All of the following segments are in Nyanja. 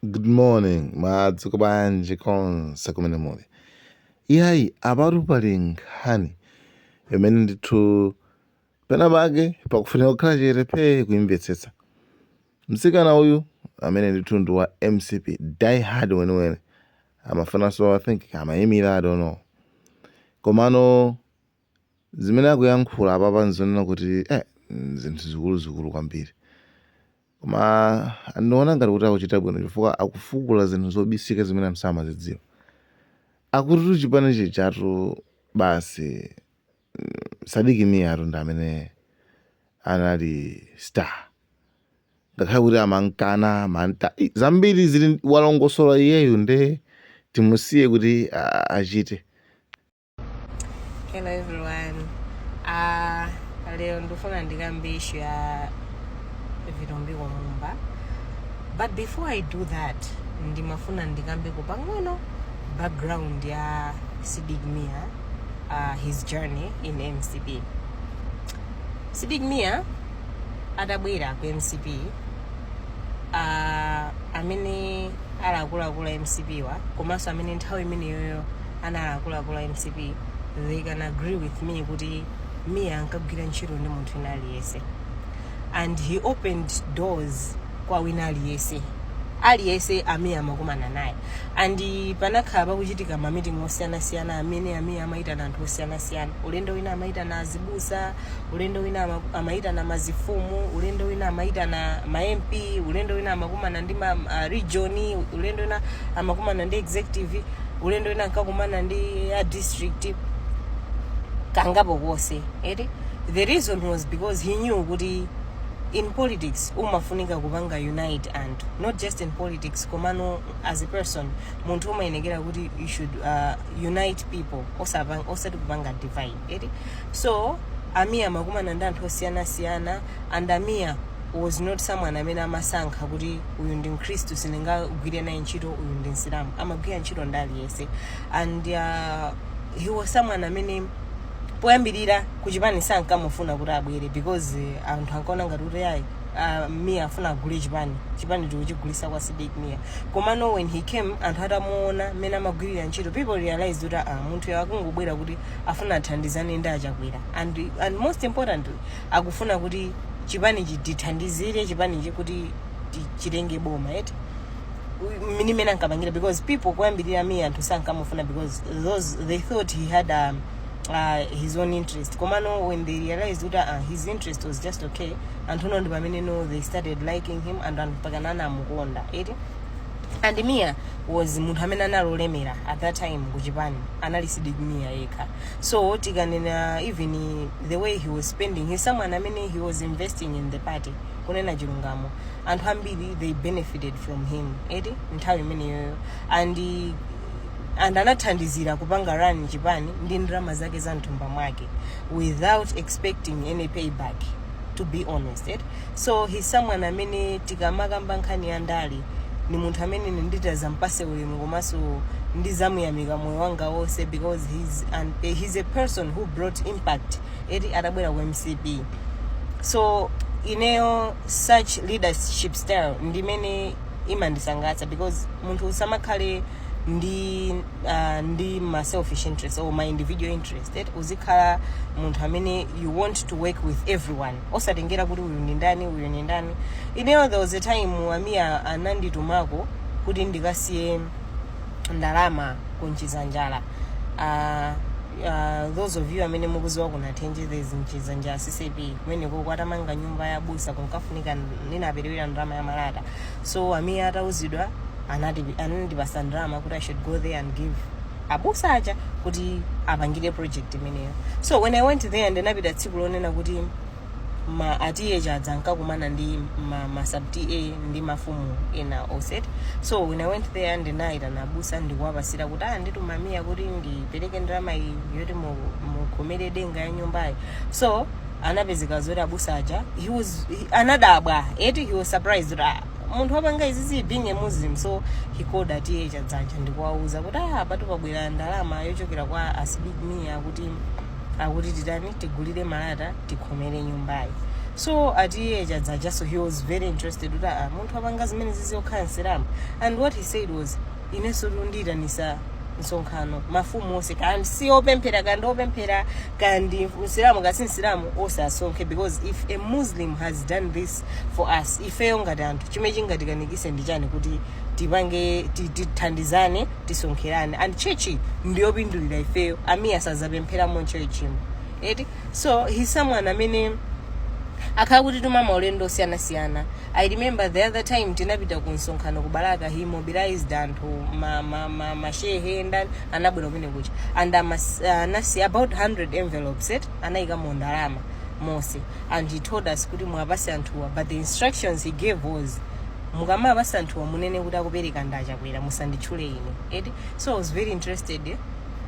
Good morning, madzuka bwanji konse kumene muli. Iyayi apatu pali nkhani imene ndithu pena pake pakufunika kukhala chete phee kuimvetsetsa. Mtsikana uyu amene ndithu ndi wa mcp die hard weniweni amafunanso kupanga I think amaimira I don't know. Komano Zimene akuyankhula apapa n'zonena kuti eh, zinthu zikuluzikulu kwambiri koma ndiona ngati kuti akuchita bwino chifukwa akufukula zinthu zobisika zimene anthu samazidziwa akutitu chipani chinathatu basi mm, Sidik Mia tu ndi amene anali star ngakhale kuti ankamukana mwa mantha i, zambiri zili wolongosola iyeyo nde timusiye kuti a- achite Hello everyone. Uh, leo ndifuna ndikambe issue ya Vitumbiko Mumba. But before I do that, ndimafuna ndikambe pang'ono background ya Sidik Mia, uh, his journey in MCP. Sidik Mia adabwera ku MCP uh, amene ali akuluakulu a MCP wa komanso amene nthawi imeneyoyo anali akuluakulu a mcp they can agree with me kuti mia ankagwira ntchito ndi munthu wina aliyense and he opened doors kwa wina aliyense aliyense amene amakumana naye and panakhala pakuchitika mamiting osiyanasiyana amene amene amayitana anthu osiyanasiyana ulendo wina amayitana azibusa ulendo wina ama- amayitana mazifumu ulendo wina amayitana ma mp ulendo wina amakumana ndi ma uh, region ulendo wina amakumana ndi executive ulendo wina ankakumana ndi a district kangapo konse eti the reason was because he knew kuti in politics umafunika kupanga unite anthu not just in politics komano as a person munthu umayenekera kuti you should uh, unite people osapa- osati kupanga divide eti so amiya amakumana ndi anthu osiyanasiyana and a Mia was not someone amene amasankha kuti uyu ndi mkhristu sindingagwire naye ntchito uyu ndi msilamu amagwira ntchito ndi aliyense and uh, he was someone amene poyambirira kuchipani sankamufuna kuti abwere because uh, anthu ankaona ngati kuti ayi uh, mia afuna agule chipani chipani tikuchigulisa kwa sidik mia komano when he came anthu atamuona mmene amagwirira ntchito people realized kuti uh, munthuyu akungobwera kuti afuna athandizane ndi a Chakwera and, and most importantly akufuna kuti chipanichi tithandizire chipanichi kuti ti- chitenge boma eti ni mmene ankapangira because people kuyambirira mia anthu sankamufuna because those they thought he had um, uh, his own interest komano when they realized kuti uh, his interest was just okay anthu no ndi pamene no they started liking him and anthu mpakana anamukonda eti and mia was munthu amene anali olemera at that time kuchipani anali sidik mia yekha so tikanena even the way he was spending he's someone amene he was investing in the party kunena chilungamo anthu ambiri they benefited from him eti nthawi imeneyoyo and and anathandizira kupanga run chipani ndi ndalama zake za mthumba mwake without expecting any payback to be honest eti so he's someone amene tikamakamba nkhani ya ndale ni munthu amene ine nditazampase ulemu komanso ndizamuyamika moyo wanga wonse because he's, an, eh, he's a person who brought impact eti atabwera ku mcp so ineyo such leadership style ndimene imandisangalatsa because munthu usamakhale ndi uh, ndi ma selfish interest or ma individual interest that uzikhala munthu amene you want to work with everyone osatengera kuti uyu ndi ndani uyu ndi ndani ineyo there was a time a mia ananditumako kuti ndikasiye ndalama ku mchizanjala uh, uh, those of you amene mukuziwa ku nathenje there is mchizanjala ccap kumeneko atamanga nyumba ya abusa kunkafunika inaperewera ndalama ya malata so a mia atauzidwa anati- anandipasa ndalama kuti i should go there and give abusa aja kuti apangire project imeneyo so when i went there ndinapita tsiku lonena kuti ma a ta chadza ankakumana ndi ma, ma sub ta ndi mafumu ena onse eti so when i went there ndinayitana abusa ndikuwapasira kuti andituma a mia kuti ndipereke ndalama iyi yoti mu- mukhomere denga ya nyumbayi so anapezeka zoti abusa aja he was he, anadabwa eti he was surprised kuti ah, munthu wapanga izizi being a muslim so he called a ta chadza aja ndikuwauza kuti apatu pabwera ndalama yochokera kwa a sidik mia kuti akuti titani tigulire malata tikhomere nyumbayi so a ta chadza aja so he was very interested kuti ah munthu wapanga zimenezizi okhala msilamu and what he said was inensotu ndiyitanisa msonkhano mafumu onse kaya ndi si opemphera kaya ndi opemphera kaya ndi msilamu kaya si msilamu onse asonkhe because if a muslim has done this for us ifeyo ngati anthu chimene chingatikanikise ndi chani kuti tipange ti- tithandizane tisonkherane and church ndiyopindulira ifeyo a mia sazapemphera mu churchimo eti so he's someone amene akhala akutituma maulendo osiyanasiyana i remember the other time tinapita ku msonkhano ku balaka he mobilized anthu ma- ma- ma- mashehe ndani anabwera kumene kuja and amas- anasiya about 100 envelopes et anaikamo ndalama monse and he told us kuti muwapatse anthuwa but the instructions he gave was mukamawapatsa anthuwa munene kuti akupereka ndi achakwera musanditchule ine eti so i was very interested eh,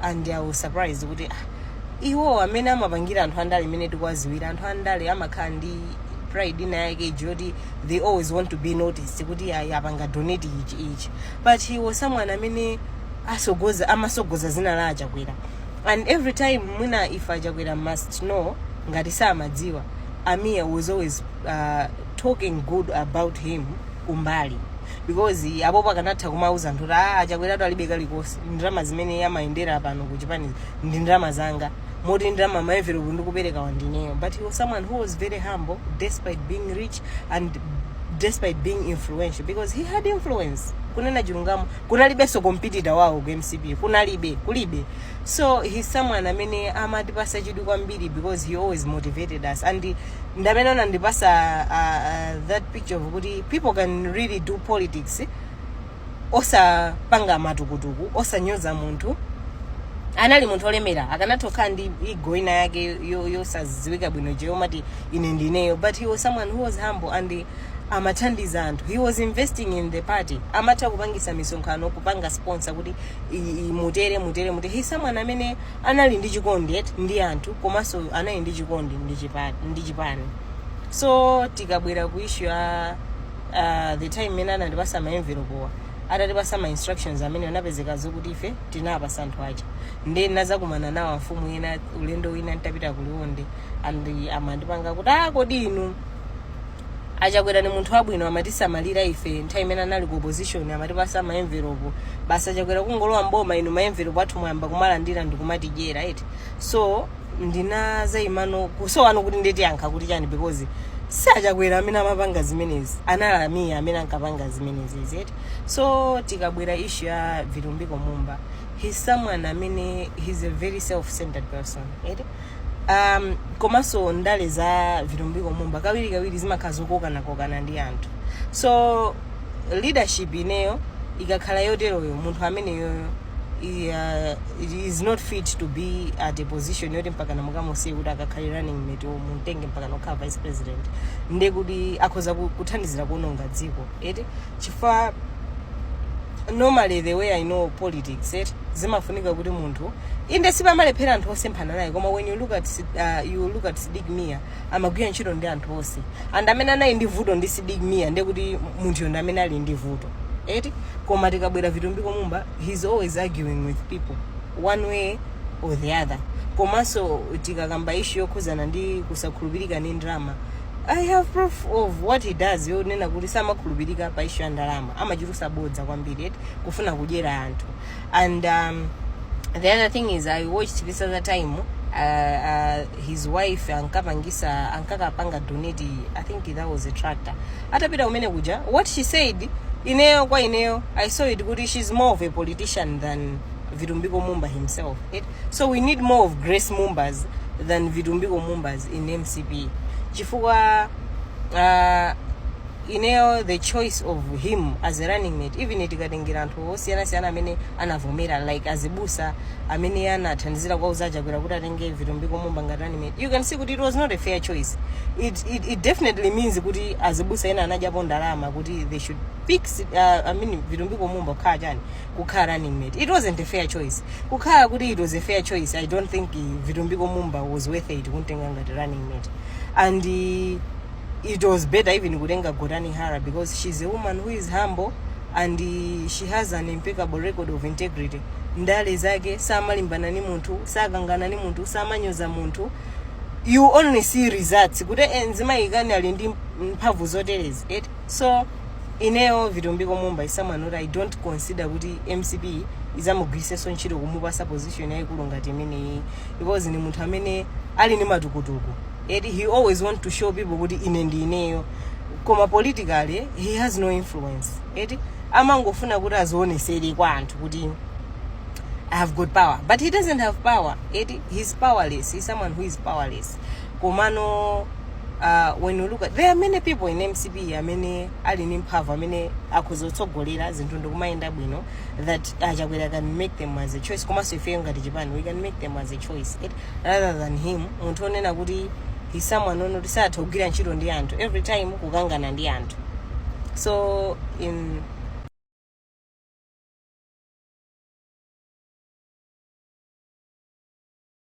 and i was surprised kuti ah, iwo amene amapangira anthu andale mmene tikuwadziwira anthu andale amakhala ndi pride ina yake ija yoti they always want to be noticed kuti ayi apanga donate ichi ichi but he was someone amene atsogoza amatsogoza dzina la achakwera and every time mwina if achakwera must know ngati samadziwa a mia was always uh, talking good about him kumbali because apopo akanatha kumauza anthu kuti a achakweratu alibe kalikonse ndalama zimene amayendera pano ku chipanizi ndi ndalama zanga moti ndalama maenvelopu ndikupereka wa ndineyo but he was someone who was very humble despite being rich and despite being influential because he had influence kunena chilungamo kunalibenso competitor wawo ku mcp kunalibe kulibe so he's someone amene amatipatsa chidwi kwambiri because he always motivated us and ndamene anandipatsa uh, uh, that picture of kuti people can really do politics osapanga matukutuku osanyoza munthu anali munthu olemera akanatha kukhala ndi ego ina yake yo- yosadziwika bwino je yomati ine ndineyo but he was someone who was humble and amathandiza anthu he was investing in the party amatha kupangisa misonkhano kupanga sponsor kuti i- i- mutere mutere mutere he's someone amene anali ndi chikondi yet ndi anthu komanso anali ndi chikondi ndi chipa- ndi chipani so tikabwera ku issue ya uh, the time imene anatipatsa ma envelope wa atatipatsa ma instructions amene anapezeka zokuti ife tinapatsa anthu aja nde ndinadzakumana nawo amfumu ena ulendo wina ntapita kuliwonde and amandipanga kuti ah kodi inu A Chakwera ni munthu wabwino amatisamalira ife nthawi imene anali ku opposition amatipatsa ma envelope. Basi a Chakwera kungolowa mboma inu ma envelope athu mwayamba kumalandira ndikumatidyera eti. So ndinadzaimano kusowano kuti nditi ndiyankha kuti chani because si a Chakwera amene amapanga zimenezi. Anali a Mia amene ankapanga zimenezi izi eti. So tikabwera issue ya Vitumbiko Mumba he's someone amene he's a very self-centered person eti. um, komanso ndale za vitumbiko mumba kawirikawiri zimakhala zokokanakokana ndi anthu so leadership ineyo ikakhala yoteroyo munthu ameneyoyo i- uh, is not fit to be at a position yoti mpakana mukamusiye kuti akakhale running mate mumtenge mpakana kukhala vice president ndekuti akhoza ku- kuthandizira kuononga dziko eti chifukwa normally the way i know politics eti zimafunika kuti munthu inde sipamalephera anthu osemphana naye koma when you look at Sid- uh, you look at Sidik Mia amagwira ntchito ndi anthu onse and amene anali ndi vuto ndi sidik mia ndiye kuti munthuyo ndi amene ali ndi vuto eti koma tikabwera vitumbiko mumba he's always arguing with people one way or the other komanso tikakamba issue yokhuzana ndi kusakhulupirika ndi ndalama I have proof of what he does yonena kuti samakhulupirika pa issue ya ndalama amachulusa bodza kwambiri eti kufuna kudyera anthu and um, the other thing is i watched this other time uh, uh, his wife ankapangisa ankakapanga donate i think that was a tractor atapita umene kuja what she said ineyo kwa ineyo i saw it kuti she's more of a politician than vitumbiko mumba himself eti so we need more of grace mumbas than vitumbiko mumbas in mcp chifukwa uh, ineyo the choice of him as a running mate even tikatengera anthu osiyanasiyana amene anavomera like azibusa amene anathandizira kuwauza achakwera kuti atenge vitumbiko mumba ngati running mate you can see kuti it was not a fair choice it, it, it definitely means kuti azibusa ena anadyapo ndalama kuti they should pick uh, i mean vitumbiko mumba kukhala chani kukhala running mate it wasn't a fair choice kukhala kuti it was a fair choice i don't think eh, vitumbiko mumba was worth it kumtenga ngati running mate and eh, it was better even kutenga gotani hara because she's a woman who is humble and eh, she has an impeccable record of integrity ndale zake samalimbana ni munthu sakangana ni munthu samanyoza munthu you only see results kuti eh, mzimayi kani ali ndi mphamvu zoterezi eti so Ineyo Vitumbiko Mumba is someone oti I don't consider kuti mcp izamugwirisenso ntchito kumupasa position yayikulu ngati imeneyi because ndi munthu amene ali ndi matukutuku eti he always want to show people kuti ine ndi ineyo koma politically he has no influence eti amangofuna kuti azionesere kwa anthu kuti I have got power but he doesn't have power eti he's powerless he's someone who is powerless komano uh, when you look at, there are many people in mcp amene ali ndi mphamvu amene akhoza kutsogolera zinthu ndikumayenda bwino that achakwera can make them as a choice komanso ifeyo ngati chipani we can make them as a choice it, rather than him munthu onena kuti he's someone onena kuti satha kugwira ntchito ndi anthu every time kukangana ndi anthu so in